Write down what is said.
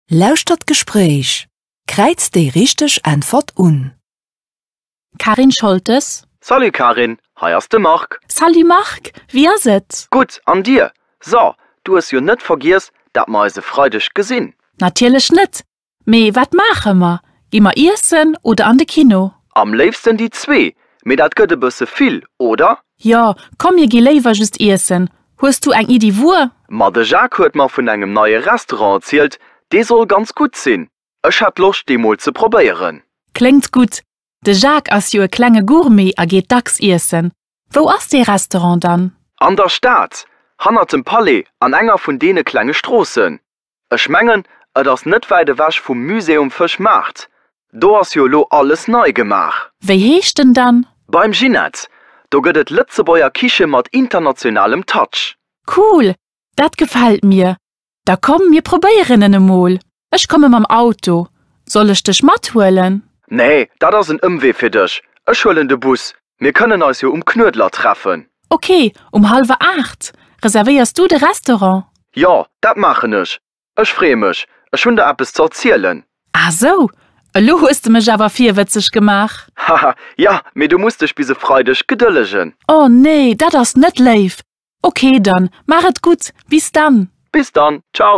Lauschtert d'Gespréich. Kräizt déi richteg Äntwert un. Karin Scholtes. Salut Karin, hei ass de Marc. Salut Marc, wéi ass et? Gutt, an dir? So, du hues jo net vergiess, dat mer eis e Freideg gesinn? Natierlech net. Mee wat maache mer? Gi mer iessen oder an de Kino? Am léifsten déi zwee, mee dat gëtt e bësse vill, oder? Jo, komm mir gi léiwer just iessen. Hues du eng Iddi wuer? Ma de Jacques huet mer vun engem neie Restaurant erzielt, dee soll ganz gutt sinn. Ech hätt Loscht dee mol ze probéieren. Kléngt gutt. De Jacques ass jo e klenge Gourmet a geet dacks iessen. Wou ass dee Restaurant dann? An der Stad, hannert dem Palais an enger vun deene klenge Stroossen. Ech mengen, et ass net wäit ewech vum Musée um Fëschmaart. Do ass jo elo alles nei gemaach. Wéi heescht en dann? Beim Ginette. Do gëtt et Lëtzebuerger Kiche mat internationalem Touch. Cool, dat gefält mir. Da komm, mir probéieren en emol. Ech komme mam Auto. Soll ech dech mathuelen? Nee, dat ass en Ëmwee fir dech. Ech huelen de Bus. Mir kënnen eis jo um Knuedler treffen. Ok, um hallwer aacht. Reservéiers du de Restaurant? Jo, dat maachen ech. Ech freeë mech. Ech hunn der eppes ze erzielen. Ah sou, elo hues de mech awer virwëtzeg gemaach. Haha, ja, mee du muss dech bis e Freideg gedëllegen. Oh nee, dat ass net léif. Ok, dann maach et gutt. Bis dann. Bis dann, ciao.